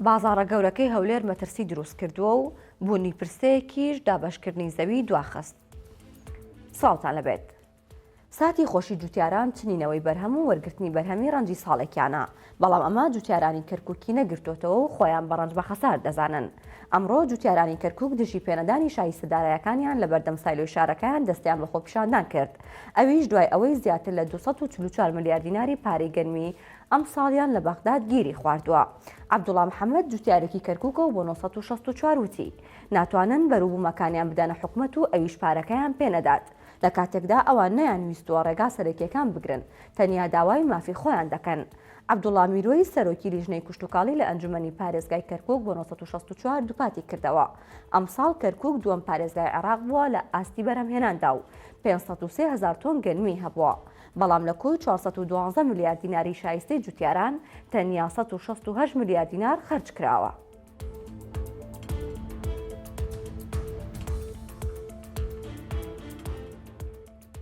بازاڕە گەورەکەی هەولێر مەترسی دروست کردووە و بوونی پرسەیەکیش دابەشکردنی زەوی دواخست. سڵاوتان لەبێت. ساتی خۆشی جوتیاران چنینەوەی بەرهەم و وەرگرتنی بەرهەمی ڕەنجی ساڵێکیانە بەڵام ئەمە جوتیارانی کەرککی نەگرتوتەوە و خۆیان بە ڕەنج بە خەسار دەزانن ئەمڕۆ جوتیارانی کەرکک دژی پێنەدانی شایستەدارایەکانیان لە بەردەم سایلۆی شارەکەیان دەستیان بە خۆپیشاندان کرد ئەویش دوای ئەوەی زیاتر لە دوو سەد و چل و چوار ملیار دیناری پارەی گەنمی ئەمساڵیان لە بەغداد گیری خواردووە. عەبدوڵا محەممەد جووتیارێکی کەرکووکە و بۆ نۆ سەد و شەست و چوار وتی، ناتوانن بەروبوومەکانیان بدەنە حکومەت و ئەویش پارەکەیان پێ نەدات، لە کاتێکدا ئەوان نەیانویستووە ڕێگا سەرەکییەکان بگرن، تەنیا داوای مافی خۆیان دەکەن. عەبدوڵا میرۆی سەرۆکی لیژنەی کشتوکاڵی لە ئەنجومەنی پارێزگای کەرکووک بۆ نۆ سەد و شەست و چوار دووپاتی کردەوە، ئەمساڵ کەرکووک دووەم پارێزگای عێراق بووە لە ئاستی بەرهەمهێناندا و پێنج سەد و سێ هەزار تۆن گەنمی هەبووە، بەڵام لە کۆی چوار سەد و دوازدە ملیار دیناری شایستەی جووتیاران، تەنیا سەد و شەست و هەشت ملیار دینار خەرج کراوە.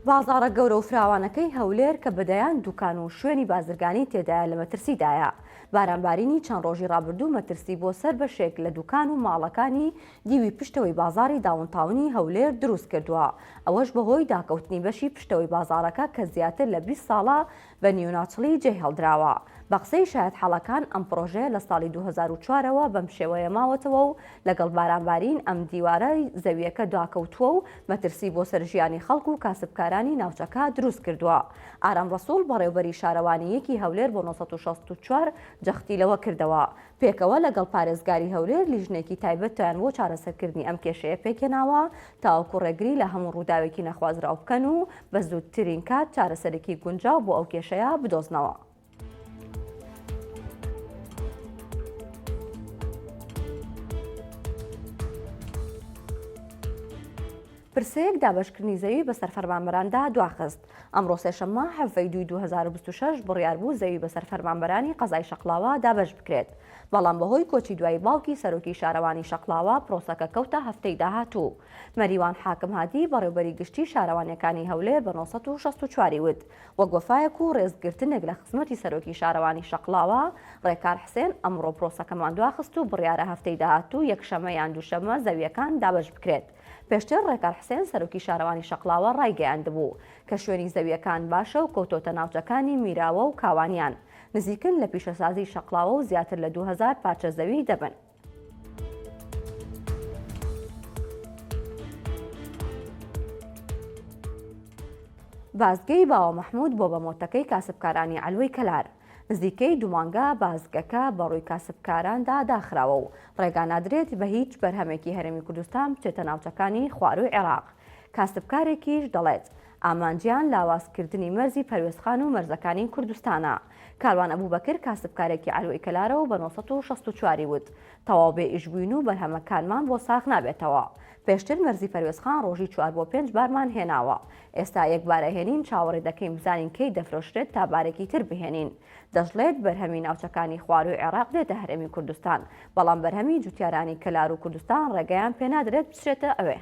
بازاڕە گەورە و فراوانەکەی هەولێر کە بە دەیان دووکان و شوێنی بازرگانی تێدایە لە مەترسیدایە، بارانبارینی چەند ڕۆژی ڕابردوو مەترسی بۆ سەر بەشێک لە دووکان و ماڵەکانی دیوی پشتەوەی بازاڕی داونتاونی هەولێر دروستکردووە، ئەوەش بەهۆی داکەوتنی بەشی پشتەوەی بازاڕەکە کە زیاتر لە بیست ساڵە بە نیوناتڵی جێهێڵدراوە. بە قسەی شایەت حاڵەکان ئەم پڕۆژەیە لە ساڵی دوو هەزار و چوار ەوە بەم شێوەیە ماوەتەوە و لەگەڵ بارانبارین ئەم دیوارە زەوییەکە داکەوتووە و مەترسی بۆ سەر ژیانی خەڵک و کاسبکارانی ناوچەکە دروست کردووە. ئارام ڕەسوڵ بەڕێوبەری شارەوانییەکی هەولێر بۆ نۆ سەد و شەست و چوار جەختی لەوە کردەوە، پێکەوە لەگەڵ پارێزگاری هەولێر لیژنەیەکی تایبەتیان بۆ چارەسەرکردنی ئەم کێشەیە پێکهێناوە تاوەکو ڕێگری لە هەموو ڕووداوێکی نەخوازراو بکەن و بە زووترین کات چارەسەرێکی گونجاو بۆ ئەو کێشەیە بدۆزنەوە. پرسەیەک دابەشکردنی زەوی بەسەر فەرمانبەراندا دواخست ئەمڕۆ سێشەممە حەڤەی دوی 2026 بڕیار بوو زەوی بەسەر فەرمانبەرانی قەزای شەقلاوە دابەش بکرێت بەڵام بەهۆی کۆچی دوایی باوکی سەرۆکی شارەوانی شەقڵاوە پرۆسەکە کەوتە هەفتەی داهاتوو. مەریوان حاکم هادی بەڕێوبەری گشتی شارەوانیەکانی هەولێر بە نۆ سەد و شەست و چوار ی وت وەک وەفایەک و رێزگرتنێک لە خزمەتی سەرۆکی شارەوانی شەقڵاوە رێکار حسێن ئەمڕۆ پرۆسەکەمان دواخست و بڕیارە هەفتەی داهاتوو یەکشەمە یان دووشەمە زەویەکان دابەش بکرێت. پێشتر رێکار حسێن سەرۆکی شارەوانی شەقڵاوە رایگەیاندبوو کە شوێنی زەویەکان باشە و کەوتۆتە ناوچەکانی میراوە و کاوانیان. نزیکن لە پیشەسازی شەقڵاوە و زیاتر لە دوو هەزار پارچە زەوی دەبن. بازگەی باوە مەحمود بۆ بە مۆتەکەی کاسبکارانی عەلوەی کەلار نزیکەی دومانگا بازگەکە بەڕووی کاسبکاراندا داخراوە و ڕێگا نادرێت بە هیچ بەرهەمێکی هەرێمی کوردستان بچێتە ناوچەکانی خواروی عێراق کاسبکارێکیش دەڵێت ئامانجیان لاوازکردنی مەرزی پەروێزخان و مەرزەکانی کوردستانە. کاروان ئەبوبەکر کاسبکارێکی عەلوەی کەلارە و بە نۆ سەد و شەست و چوار ی وت، تەواو بێ ئیش بووین و بەرهەمەکانمان بۆ ساغ نابێتەوە. پێشتر مەرزی پەروێزخان ڕۆژی چوار بۆ پێنج بارمان هێناوە. ئێستا یەک بار ئەهێنین چاوەڕێ دەکەین بزانین کەی دەفرۆشرێت تا بارێکی تر بهێنین. دەشڵێت، بەرهەمی ناوچەکانی خوارووی عێراق دێتە هەرێمی کوردستان، بەڵام بەرهەمی جووتیارانی کەلار و کوردستان ڕێگەیان پێنادرێت بچرێتە ئەوێ.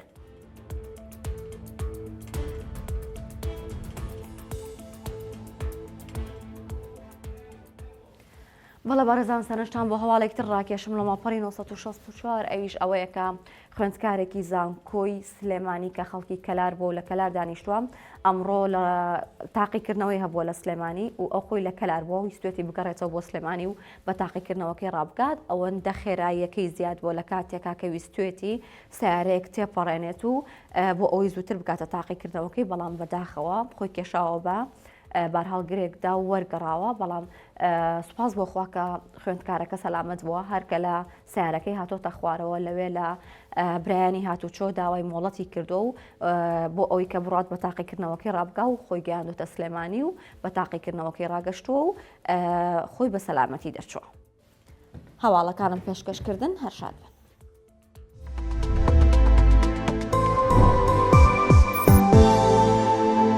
بەڵە بەڕێزان سەرنجتان بۆ هەواڵێک تر ڕاکێشم لە ماپەڕی 1964 ئەویش ئەوەیەکە خوێندکارێکی زانکۆی سلێمانی کە خەڵکی کەلار بۆ لە کەلار دانیشتووە ئەمڕۆ لە تاقیکردنەوەی هەبووە لە سلێمانی و ئەو خۆی لە کەلار بۆ ویستێتی بگەڕێتەوە بۆ سلێمانی و بە تاقیکردنەوەکەی ڕابگات ئەوەندە خێراییەکەی زیاد بۆ لە کاتێکا کە ویستێتی سەیارەیەک تێپەڕێنێت و بۆ ئەوەی زووتر بکاتە تاقیکردنەوەکەی بەڵام بەداخەوە خۆی کێشاوە بە بارهاڵگرێکدا و وەرگەڕاوە بەڵام سوپاس بۆ خواکە خوێندکارەکە سەلامت بووە هەرکە لە سیارەکەی هاتۆتە خوارەوە لەوێ لە برایانی هاتوچۆ داوای مۆڵەتی کردو و بۆ ئەوەی کە بڕات بە تاقیکردنەوەکەی ڕابگا و خۆی گەیاندۆتە سلێمانی و بە تاقیکردنەوەکەی ڕاگەشتووە و خۆی بە سەلامەتی دەرچووە. هەواڵەکانم پێشکەش کردن هەر شاد بن